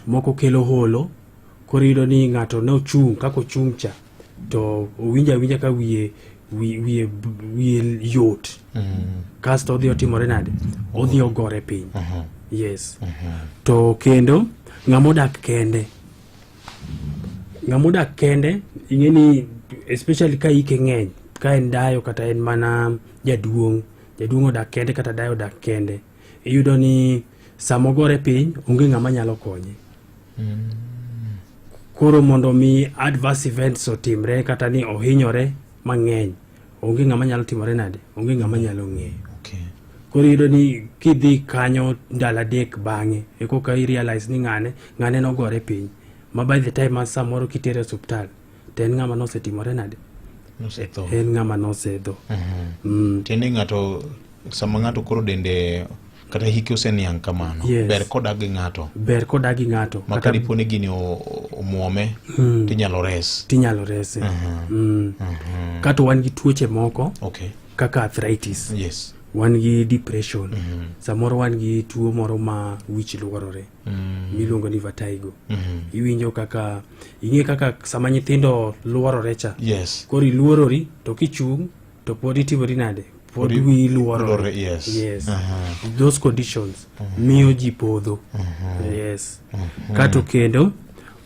Moko kelo holo, koro iyudo ni ng'ato ne ochung' kaka ochung' cha to owinjo awinja ka wiye wiye wiye yot mm. kasto odhi otimore nade odhi ogore piny uh-huh. yes uh-huh. to kendo ng'ama odak kende ng'ama odak kende ing'e ni especially ka ike ng'eny ka en dayo kata en mana jaduong' jaduong' odak kende kata dayo odak kende iyudo ni sama ogore piny onge ng'ama nyalo konye mm. koro mondo mi adverse events otimre kata ni ohinyore mang'eny onge ng'ama nyalo timore nade onge ng'ama nyalo ng'eyo okay. koro iyudo ni kidhi kanyo ndalo adek bang'e ekoka i realize ni ng'ane ng'ane nogore piny ma by the time an samoro kitere osuptal to en ng'ama nosetimore nade nosetho en ng'ama nosedho mm. tiende ng'ato sama ng'ato koro dende kata hike oseniang' kamano Yes. ber kodak gi ng'ato ber kodak gi ng'ato ma kata kadipo ni gini o- o- omwome Mm. tinyalo res tinyalo rese mm. kata wan gi tuoche moko okay kaka arthritis yes wan gi depression samoro wan gi tuo moro ma wich lworore mm. miluongo ni vatigo mm -hmm. iwinjo kaka ing'e kaka sama nyithindo luorore cha yes. koro iluorori to kichung' to pod itimori nade pod wiyi luorore yes. yes. uh -huh. those conditions uh -huh. miyo ji podho uh -huh. yes. uh -huh. kato kendo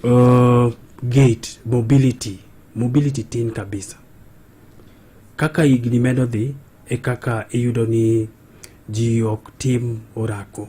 uh, gate mobility mobility tin kabisa kaka higni medo dhi e kaka iyudo ni ji ok tim orako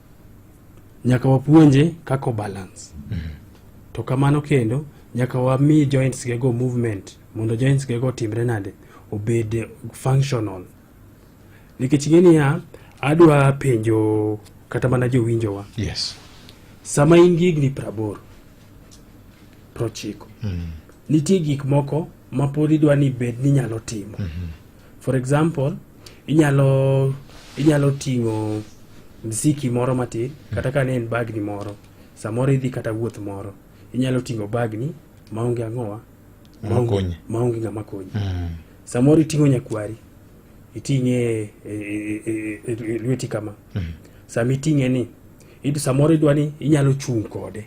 nyaka wapuonje kaka obalance mm -hmm. to kamano kendo nyaka wami joints gego movement mondo joints gego otimre nade obed functional nikech ing'e niya adwa penjo kata mana jowinjowa yes. sama in gi higni praboro prochiko mm. nitie gik moko mapod idwa ni bed ni nyalo timo mm -hmm. For example, inyalo inyalo ting'o mziki moro matin kata ka ne en bagni moro samoro idhi kata wuoth moro inyalo ting'o bagni maonge ang'owa maonge ng'ama konyi mm. samoro iting'o nyakwari iting'e e, e, e, e lweti kama mm. sama iting'e ni samoro idwa ni inyalo chung' kode